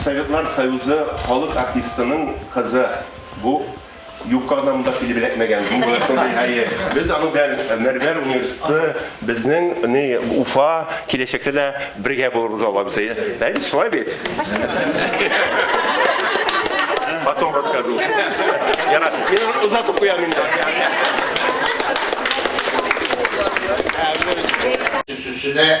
Советлар Союзы халык артистының кызы. Бу Юкка гына монда килеп эләкмәгән. Бу гына шундый һәйе. Без аның белән Мәрмәр университеты, безнең ни Уфа киләчәктә дә бергә булырбыз Алла бирсә. Ә бит шулай бит. Потом расскажу. Я рад. Мин озатып куям инде. Сүзенә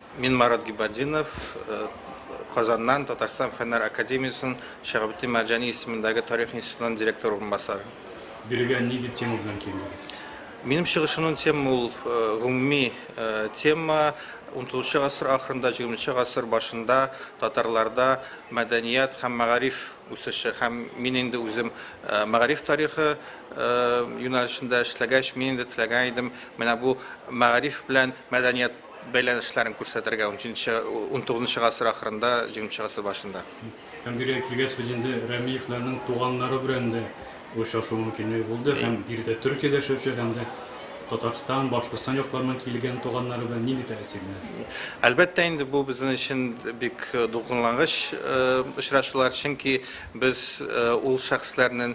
Мин Марат Гибадинов, Казаннан, Татарстан Фәннәр академиясенең Шиһабетдин Мәрҗани исемендәге тарих институтының директор урынбасары. Бирегә ни дип тема белән килдегез? Минем чыгышымның тема ул гомуми тема, унтугызынчы гасыр ахырында, җигерменче гасыр башында татарларда мәдәният һәм мәгариф үсеше һәм мин инде үзем мәгариф тарихы юнәлешендә эшләгәч, мин инде теләгән идем менә бу мәгариф белән мәдәният Бәйләнешләрен күрсәтергә унҗиденче, унтугызынчы гасыр ахырында, җигерменче гасыр башында. Һәм бирегә килгәч, без инде Рәмиевләрнең туганнары белән дә очрашу мөмкинлеге булды. Һәм биредә Төркиядә яшәүче һәм дә Татарстан, Башкортстан якларыннан килгән туганнары белән нинди тәэсирләр? Әлбәттә инде, бу безнең өчен бик дулкынлангыч очрашулар, чөнки без ул шәхесләрнең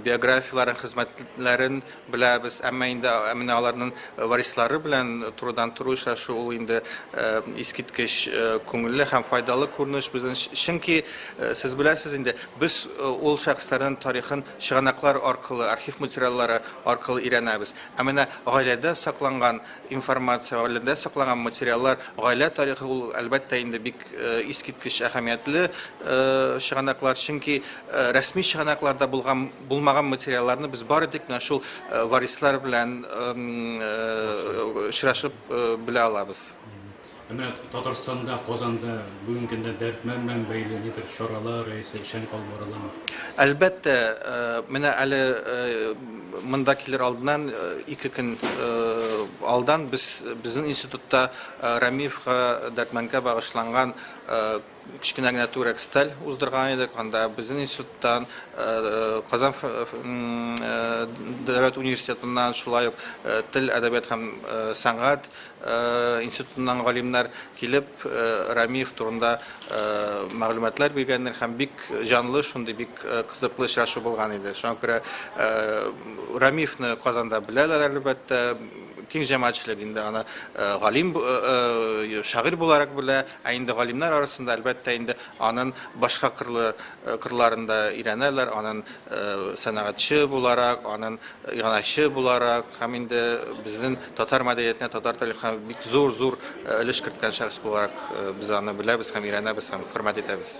биографияләрен, хезмәтләрен, Беләбез, әмма инде менә аларнын варислары белән турыдан-туры очрашу ул инде искиткеч күңелле һәм файдалы күренеш безнен өчен. Чөнки, сез беләсез инде, без ул шәхесләрнен тарихын чыганаклар аркылы, архив материаллары аркылы өйрәнәбез. Ә менә гаиләдә сакланган информация, гаиләдә сакланган материаллар, гаилә тарихы ул, әлбәттә инде, бик искиткеч әһәмиятле чыганаклар. Чөнки рәсми чыганакларда булган Булмаган материалларны без бары тик менә шул варислар белән очрашып белә алабыз. Ә менә Татарстанда, Казанда бүгенге көндә Дәрдмәнд белән бәйле нидер чаралар яисә эшләнеп алып барыламы? Әлбәттә, менә әле монда килер алдыннан, ике көн алдан без безнең институтта Рәмиевка, Дәрдмәндкә багышланган Кечкенә генә түрәк стель уздырган идек. Анда безнең институттан, Казан дәүләт университетыннан, шулай ук тел, әдәбият һәм сәнгать институтыннан галимнәр килеп, Рәмиев турында мәгълүматлар биргәннәр һәм бик җанлы, шундый бик кызыклы очрашу булган иде. Шуңа күрә Рәмиевне Казанда беләләр, әлбәттә, киң җәмәгатьчелек инде аны галим, шагыйрь буларак белә. Ә инде галимнәр арасында, әлбәттә инде, анын башка кырлы кырларын да өйрәнәләр, анын сәнәгатьче буларак, анын иганәче буларак һәм инде безнен татар мәдәниятенә, татар тарихына бик зур-зур өлеш керткән шәхес буларак без аны беләбез һәм өйрәнәбез һәм хөрмәт итәбез.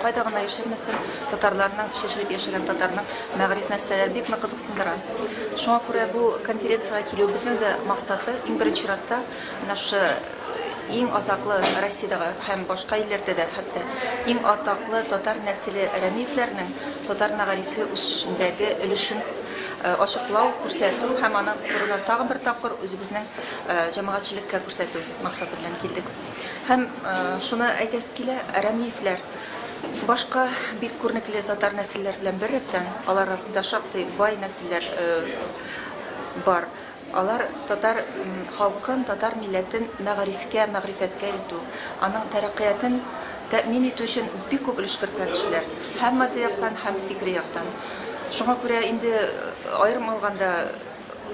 Кайда гына яшермәсен, татарларның, чәчелеп яшәгән татарның мәгариф мәсьәләләре бик нык кызыксындыра. Шуңа күрә бу конференциягә килүебезнең дә максаты, иң беренче чиратта, менә шушы иң атаклы Россиядәге һәм башка илләрдә дә хәтта иң атаклы татар нәселе Рәмиевләрнең татар мәгарифе үсешендәге өлешен ачыклау, күрсәтү һәм аның турында тагын бер тапкыр үзебезнең җәмәгатьчелеккә күрсәтү максаты белән килдек. Һәм шуны әйтәсе килә, рәмиевләр башка бик күренекле татар нәселләр белән беррәттән, алар арасында шактый бай нәселләр бар. Алар татар халкын, татар милләтен мәгарифкә, мәгърифәткә илтү, аның тәрәккыятен тәэмин итү өчен бик күп өлеш керткән кешеләр, һәм матди яктан, һәм фикри яктан. Шуңа күрә инде аерым алганда,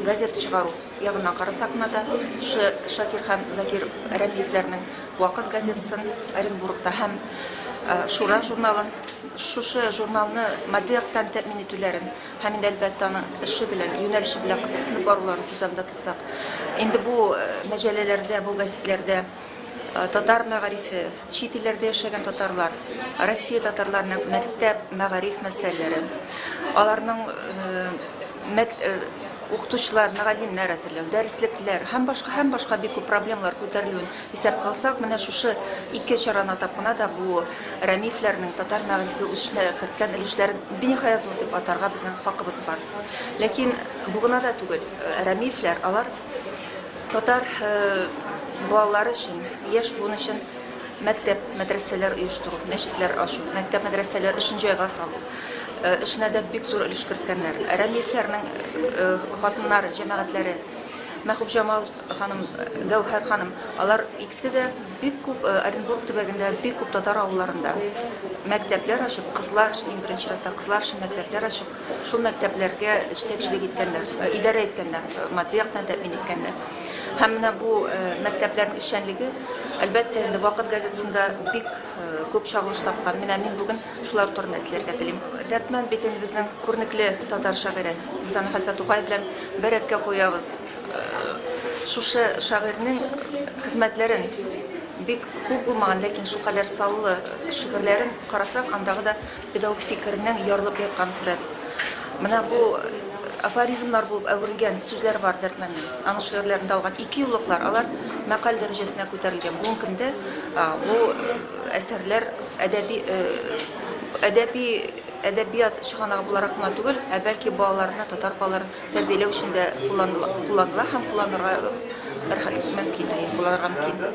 Газета чыгару ягына карасак кына да, шушы Шакир һәм Закир Рәмиевләрнең Вакыт газетасын Оренбургта һәм Шура журналын, шушы журналны матди яктан тәэмин итүләрен һәм инде, әлбәттә, аның эше белән, юнәлеше белән кызыксынып баруларын күз алдында тотсак, инде бу мәҗәлләләрдә, бу гәзитләрдә Татар мәгарифе, чит илләрдә яшәгән татарлар, Россия татарларының мәктәп, мәгариф мәсьәләләре, аларның укытучылар, мөгаллимнәр әзерләү, дәреслекләр һәм башка, һәм башка бик күп проблемалар күтәрелүен исәпкә алсак, менә шушы ике чараны атап кына да бу Рәмиевләрнең татар мәгарифе үсешенә керткән өлешләрен биниһая зур дип атарга безнең хакыбыз бар. Ләкин бу гына да түгел, Рәмиевләр, алар, Татар балалары өчен, яшь буын өчен мәктәп, мәдрәсәләр оештыру, мәчетләр ачу, мәктәп, мәдрәсәләр өчен җайга салу эшенә дә бик зур өлеш керткәннәр. Рәмиевләрнең хатыннары, җәмәгатьләре Мәхүб Җамал ханым, Гәүһәр ханым, алар икесе дә бик күп э, Оренбург төбәгендә бик күп татар авылларында мәктәпләр ачып, кызлар өчен иң беренче чиратта кызлар өчен мәктәпләр ачып, Шул мәктәпләргә җитәкчелек иткәннәр, идарә иткәннәр, матди яктан тәэмин иткәннәр. Һәм менә бу мәктәпләрнең эшчәнлеге, әлбәттә, инде Вакыт газетасында бик күп чагылыш тапкан. Менә мин бүген шулар турында эзләргә телим. Дәрдмәнд битен безнең күренекле татар шагыйре, без аны хәтта Тукай белән бер рәткә куябыз. Шушы шагыйрьнең хезмәтләрен, бик күп булмаган, ләкин шулкадәр саллы шигырьләрен карасак, андагы да Педагог фикеренең ярылып ятканын күрәбез. Менә бу афоризмнар булып әверелгән сүзләр бар Дәрдмәннең. Аның шигырьләрендә алган ике юллыклар, алар мәкаль дәрәҗәсенә күтәрелгән. Бүгенге көндә бу әсәрләр әдәби әдәби әдәбият чыганагы буларак кына түгел, ә бәлки балаларны, татар балаларын тәрбияләү өчен дә кулланыла һәм кулланырга мөмкин, булырга мөмкин.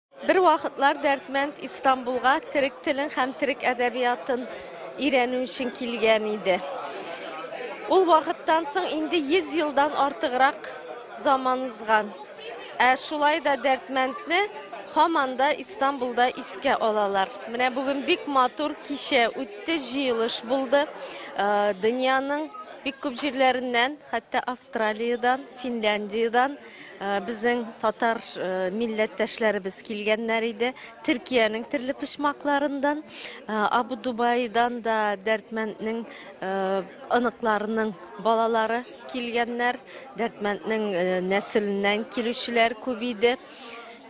Бервакытлар Дәрдмәнд Истанбулга төрек телен һәм төрек әдәбиятын өйрәнү өчен килгән иде. Ул вакыттан соң инде 100 елдан артыграк заман узган. Ә шулай да Дәрдмәндне һаман да Истанбулда искә алалар. Менә бүген бик матур кичә үтте, җыелыш булды. Э, дөньяның бик күп җирләреннән, хәтта Австралиядән, Финляндиядән Безнең татар милләттәшләребез килгәннәр иде. Төркиянең төрле почмакларыннан, Абу Дубайдан да Дәрдмәнднең оныкларының балалары килгәннәр. Дәрдмәнднең нәселеннән килүчеләр күп иде.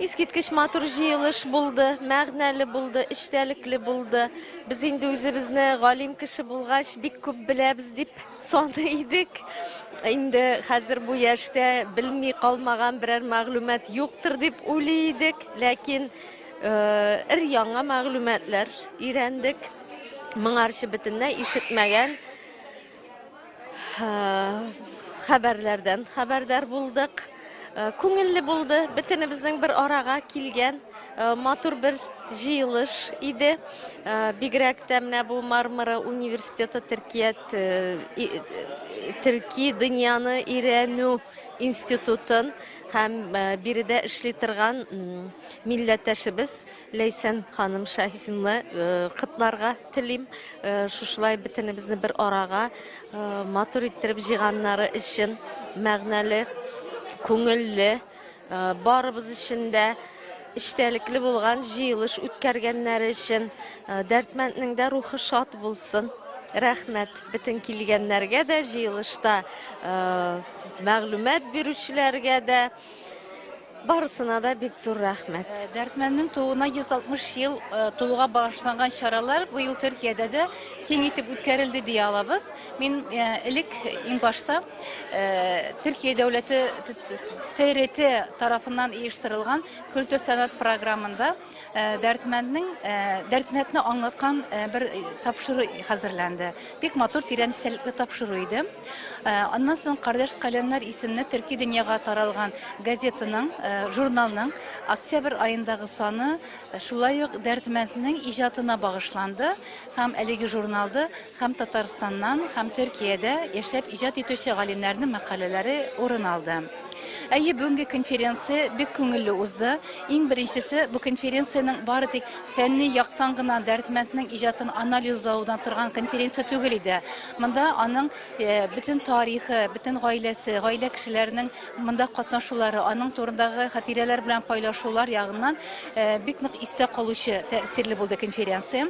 Искиткеч матур җыелыш булды, мәгънәле булды, эчтәлекле булды. Без инде үзебезне галим кеше булгач, бик күп беләбез дип Саный идек. Инде хәзер бу яшьтә белми калмаган берәр мәгълүмат юктыр дип уйлый идек, ләкин өр яңа мәгълүматлар өйрәндек. Моңарчы бөтенләй ишетмәгән хәбәрләрдән хәбәрдар булдык. Э, күңелле булды бөтенебезнең бер арага килгән э, матур бер җыелыш иде э, бигрәк тә менә бу мармара университеты төркият төрки дөньяны өйрәнү институтын һәм биредә эшли торган милләттәшебез Ләйсән ханым Шаһитны котларга телим. Шушылай бөтенебезне бер арага матур иттереп җыйганнары өчен мәгънәле, күңелле, барыбыз өчен дә эчтәлекле булган җыелыш үткәргәннәре өчен Дәрдмәнднең дә рухы шат булсын. Рәхмәт бөтен килгәннәргә дә, җыелышта мәгълүмат бирүчеләргә дә. Барысына да бик зур рәхмәт. Э, Дәртмәннең тууына 160 ел э, тулуга багышланган чаралар быел Төркиядә дә киң итеп үткәрелде дия алабыз. Мин э, элек иң башта Төркия дәүләте ТРТ тарафыннан оештырылган культур сәнгать програмында Э, дәрдмәнднең э, дәрдмәтне аңлаткан э, бер тапшыру хәзерләнде. Бик матур тирән истәлекле тапшыру иде. Аннан соң Кардәш каләмнәр исемле төрки дөньяга таралган газетаның, журналның октябрь аендагы саны шулай ук дәрдмәнднең иҗатына багышланды һәм әлеге журналды Һәм Татарстаннан, һәм Төркиядә яшәп иҗат итүче галимнәрнең мәкаләләре урын алды. Әйе, бүгенге конференция бик күңелле узды. Иң беренчесе, бу конференциянең бары тик фәнни яктан гына Дәрдмәнднең иҗатын анализлау гына торган конференция түгел иде. Монда аның бөтен тарихы, бөтен гаиләсе, гаилә кешеләренең монда катнашулары, аның турындагы хатирәләр белән кайлашулар ягыннан бик нык истә калучы, тәэсирле булды конференция.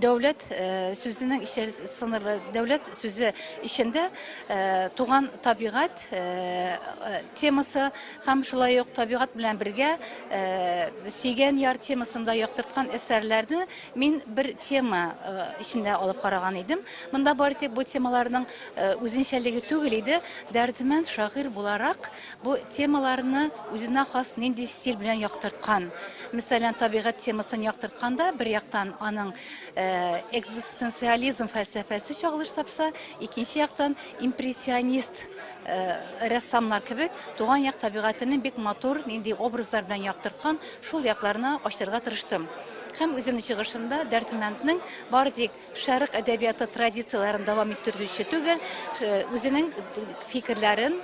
дәүләт э, сүзенең ишәр сыныры дәүләт сүзе ишендә э, туган табигать э, темасы һәм шулай ук табигать белән бергә сөйгән яр темасында яктырткан әсәрләрне мин бер тема ишендә алып караган идем монда бары тик бу темаларның үзенчәлеге түгел иде дәрдемәнд шагыйрь буларак Бу темаларны үзенә хас нинди стиль белән яктырткан? Мисалән, табигать темасын яктыртканда, бер яктан аның экзистенциализм фәлсәфәсе чагылыш тапса, икенче яктан импрессионист рәссамнар кебек туган як табигатенең бик матур, нинди образлар белән яктырткан, шул якларны ачырга тырыштым. Һәм үземнең чыгышымда Дәрдмәнднең бары тик Шәрык әдәбияты традицияләрен дәвам иттерүче түгел, үзенең фикерләрен,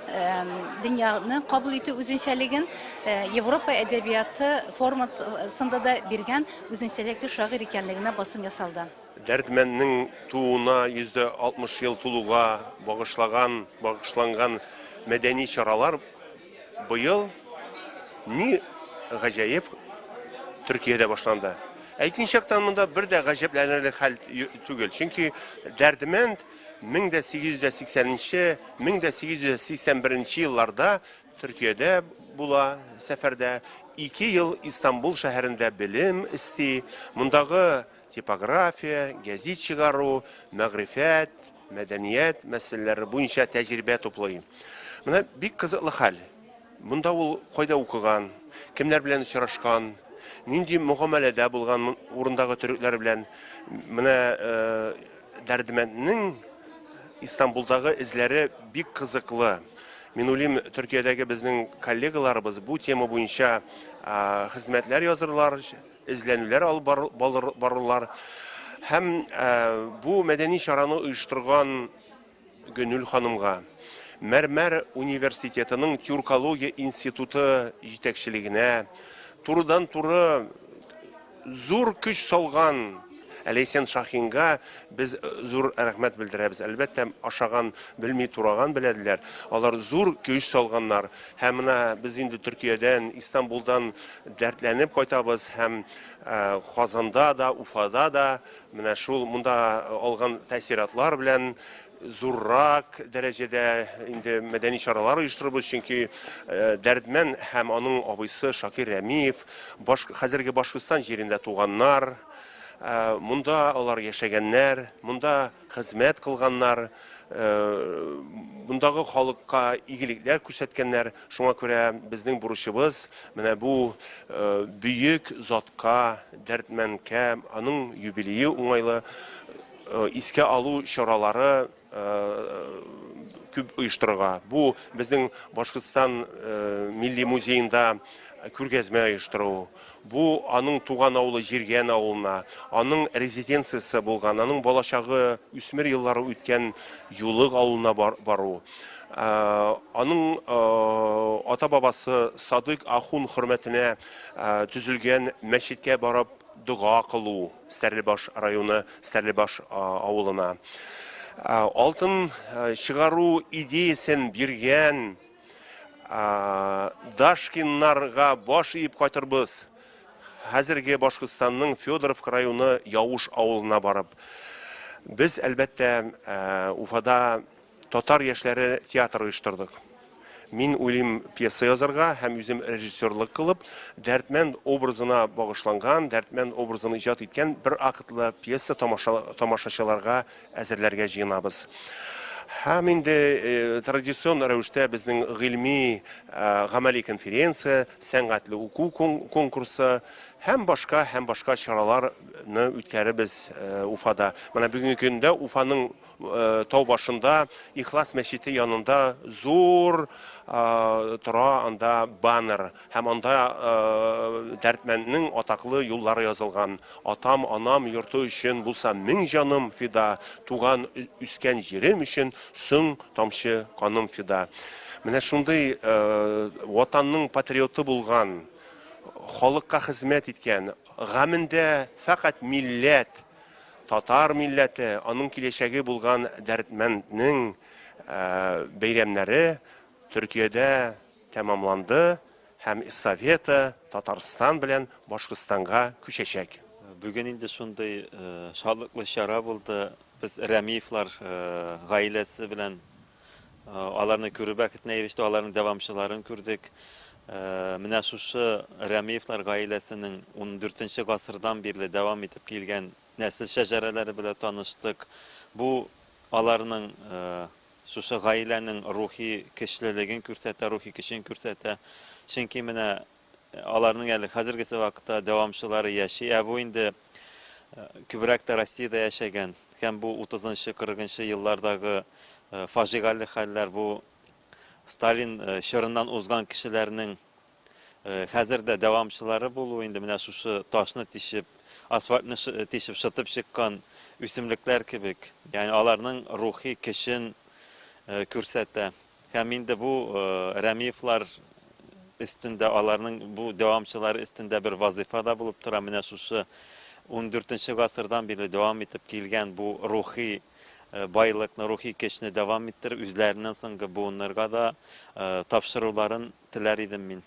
дөньяны кабул итү үзенчәлеген Европа әдәбияты форматсында да биргән үзенчәлекле шагыйрь икәнлегенә басым ясалды. Дәрдмәнднең тууына 160 ел тулуга багышлаган багышланган мәдәни чаралар Быел, ни гаҗәеп, Төркиядә башланды. Әйтмичәктән монда бер дә гаҗәпләнерлек хәл түгел, чөнки Дәрдмәнд 1880 нче, 1881 нче елларда Төркиядә була сәфәрдә, ике ел Истанбул шәһәрендә белем эсти, мондагы типография, гәзит чыгару, мәгърифәт, мәдәният мәсьәләләре буенча тәҗрибә туплый. Менә бик кызыклы хәл. Монда ул кайда укыган, кемнәр белән очрашкан, нинди мөгамәләдә булган урындагы төрекләр белән менә э, Дәрдемәнднең Истанбулдагы эзләре бик кызыклы. Мин уйлыйм, Төркиядәге безнең коллегаларыбыз бу тема буенча хезмәтләр язырлар, эзләнүләр алып барылар һәм бу мәдәни чараны оештырган Гөнүл ханымга, Мәрмәр университетының тюркология институты җитәкчелегенә, турыдан-туры зур көч салган Ләйсән Шахинга без зур рәхмәт белдерәбез. Әлбәттә, ашаган белми тураган беләделәр. Алар зур көч салганнар. Һәм менә без инде Төркиядән, Истанбулдан Дәртләнеп кайтабыз һәм Казанда да, Уфада да менә шул монда алган тәэсиратлар белән зуррак дәрәҗәдә инде мәдәни чаралар оештырырбыз, чөнки Дәрдмән һәм аның абыйсы Шакир Рәмиев баш хәзерге Башкортстан җирендә туганнар, монда алар яшәгәннәр, монда Хезмәт кылганнар, мондагы халыкка игелекләр күрсәткәннәр. Шуңа күрә безнең бурычыбыз менә бу бөек затка, Дәрдмәнкә, аның юбилее уңайлы искә алу чаралары күп оештырырга. Бу безнең Башкортстан милли музеенда күргәзмә оештыру. Бу, аның туган авылы Җиргән авылына, аның резиденциясе булган, аның балачагы, үсмер еллары үткән Юлык авылына бару. Аның ата-бабасы Садыйк ахун хөрмәтенә төзелгән мәчеткә барып дога кылу, Стәрлебаш районы Стәрлебаш авылына. Алтын чыгару идеясен биргән Дашкиннарга баш иеп кайтырбыз. Хәзерге Башкортстанның Федоровка районы Явыш авылына барып. Без, әлбәттә, Уфада татар яшьләре театры оештырдык. Мин уйлыйм пьеса язарга һәм үзем режиссерлык кылып, Дәрдмәнд образына багышланган, Дәрдмәнд образын иҗат иткән бер актлы пьеса тамашачыларга әзерләргә җыенабыз. Һәм инде традицион рәвештә безнең гыйльми, гамәли конференция, сәнгатьле уку конкурсы һәм башка, һәм башка чараларны үткәрербез Уфада. Менә бүгенге көндә Уфаның тау башында, Ихлас мәчете янында зур тора анда баннер. Һәм анда дәрдмәнднең атаклы юллары язылган, Атам, анам йорты өчен булса мең җаным фида, Туган, үскән җирем өчен соң тамчы каным фида. Менә шундый Ватанның патриоты булган, халыкка хезмәт иткән, гамендә фәкать милләт, татар милләте, аның киләчәге булган дәрдмәнднең бәйрәмнәре Төркиядә, Тәмамланды һәм эстафета Татарстан белән Башкортстанга күчәчәк. Бүген инде шундый шатлыклы чара булды. Без Рәмиевлар гаиләсе белән аларны күрү бәхетенә ирештек, аларның дәвамчыларын күрдек. Менә шушы Рәмиевлар гаиләсенең ундүртенче гасырдан бирле дәвам итеп килгән нәсел шәҗәрәләре белән таныштык. Бу аларның Шушы гаиләнең рухи көчлелеген күрсәтә, рухи көчен күрсәтә. Чөнки менә аларның әле хәзергесе вакытта дәвамчылары яши. Ә бу инде күбрәк тә Россиядә яшәгән. Һәм бу 30-нчы, 40-нчы еллардагы фажигале хәлләр, бу Сталин чорыннан узган кешеләрнең Хәзер дә дәвамчылары булу инде менә шушы ташны тишеп, асфальтны тишеп шытып чыккан үсемлекләр кебек. Ягъни аларның рухи көчен күрсәтә. Һәм инде бу Рәмиевлар өстендә, аларның бу дәвамчылары өстендә бер вазыйфа да булып тора. Менә шушы 14 гасырдан бирле дәвам итеп килгән бу рухи байлыкны, рухи көчне дәвам иттереп, үзләреннән соңгы буыннарга да тапшыруларын Теләр идем мин.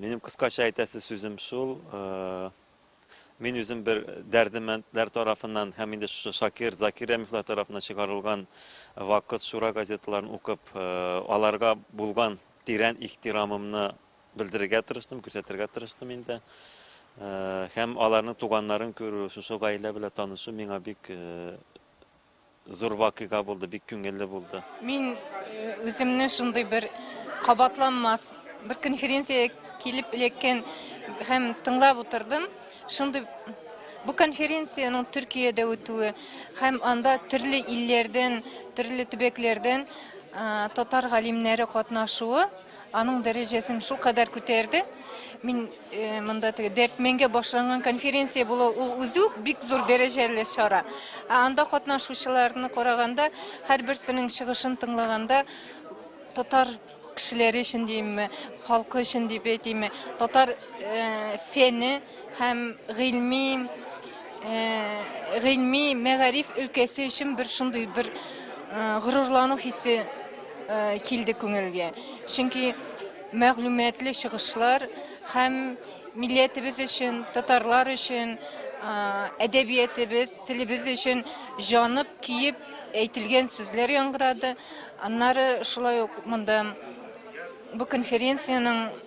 Минем кыскача әйтәсе сүзем шул. Мин үзем бер дәрдемәндләр тарафыннан һәм инде шушы Шакир, Закир Рәмифлар тарафыннан чыгарылган Вакыт, Шура газеталарын укып, аларга булган тирән ихтирамымны белдерергә тырыштым, күрсәтергә тырыштым инде. Һәм аларның туганнарын күрү, шушы гаилә белән танышу миңа бик Зур вакыйга булды, бик күңелле булды. Мин үземне шундый бер кабатланмас бер конференциягә килеп эләккән һәм тыңлап утырдым. Шундый бу конференциянең Төркиядә үтүе һәм анда төрле илләрдән, төрле төбәкләрдән татар галимнәре катнашуы Аның дәрәҗәсен шул кадәр күтәрде. Мин э, монда теге Дәртменгә башланган конференция булу ул үзе үк бик зур дәрәҗәле чара. Ә анда катнашучыларны караганда, һәрберсенең чыгышын тыңлаганда татар кешеләре өчен димме, халкы өчен дип әйтимме, татар э, фәне Һәм гыйльми, гыйльми, мәгариф өлкәсе өчен бер шундый бер горурлану хисе килде күңелгә. Чөнки мәгълүматлы чыгышлар һәм милләтебез өчен, татарлар өчен әдәбиятебез, телебез өчен җанып, киеп әйтелгән сүзләр яңгырады. Аннары шулай ук монда бу конференциянең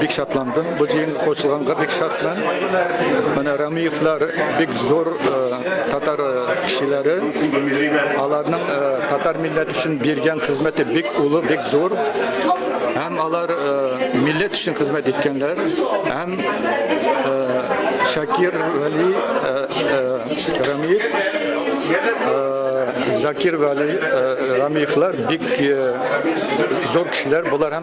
Бик шатландым бу җыенга кушылганга бик шатмын. Менә Рамиевлар бик зур э, татар э, кешеләре. Аларның э, татар милләте өчен биргән хезмәте бик улы, бик зур. Һәм алар милләт өчен хезмәт иткәннәр. Һәм Шакир Вали Рамиев Закир Вали Рамиевлар бик зур кешеләр. Булар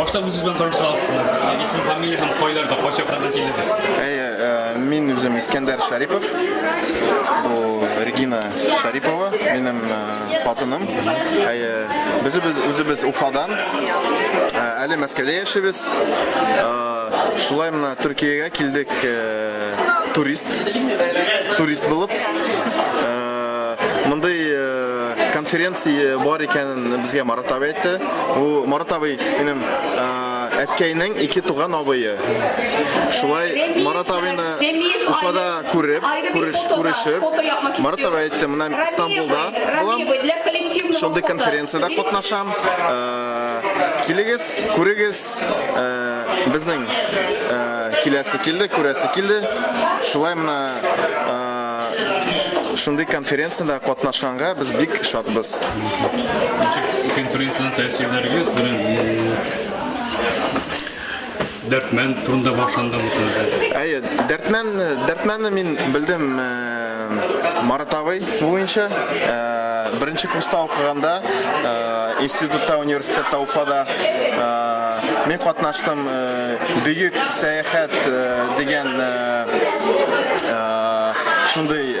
Башта үзегез белән таныштырасызмы? Исем, фамилия һәм кайларда, кайсы яклардан килдегез? Э, мин үзем Искәндәр Шарипов. Бу Регина Шарипова, минем э, хатыным. Әйе, безебез үзебез Уфадан. Э, әле Мәскәүдә яшибез. Шулай мына Төркиягә килдек турист. Турист булып. Мондый конференция бар икән Безгә Марат абый әйтте. Бу Марат абый минем әткәйнең ике туган абые. Шулай Марат абыйны Уфада күреп, күреш, күрешеп, Марат абый әйтте, менә Стамбулда булам. Шундый конференциядә катнашам. Килегез, күрегез, безнең киләсе килде, күрәсе килде. Шулай менә шундый конференциядә катнашканга без бик шатбыз. Ничек конференциядә тәэсирләрегез белән дәртмән турында башланды бу сүзләр? Әйе, дәртмән, дәртмәнне мин белдем Марат абый буенча. Беренче курста укыганда институтта, университетта, Уфада мин катнаштым Бөек сәяхәт дигән шундый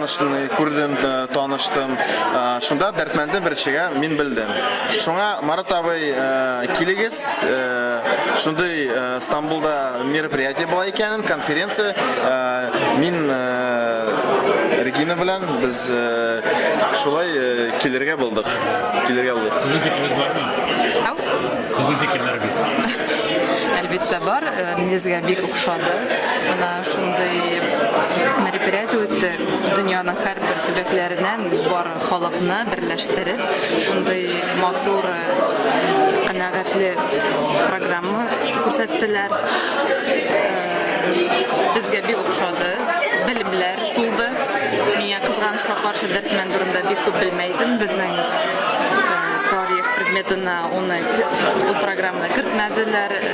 Танышны күрдем, таныштым. Шунда Дәрдмәндне беренчегә мин белдем. Шуңа Марат абый, килегез, шундый Стамбулда мероприятие була икәнен, конференция, мин Регина белән без шулай килергә булдык. Килергә булдык. Сезнең фикерегез бармы? Ау? Сезнең фикерләрегез? Әлбәттә бар, безгә бик охшады. Шундый мероприятие үтте, дөньяның һәрбер төбәкләреннән бар халыкны берләштереп, шундый матур, канәгатьле программа күрсәттеләр. Безгә бик ошады, белемләр тулды. Миңа кызганычка каршы Дәрдмәнд турында бик күп белмәй идем. Безнең тарих предметына уны, ул программаны кертмәделәр.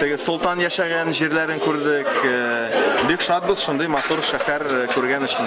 Теге солтан яшәгән җирләрен күрдек. Бик шатбыз шундый матур шәһәр күргән өчен.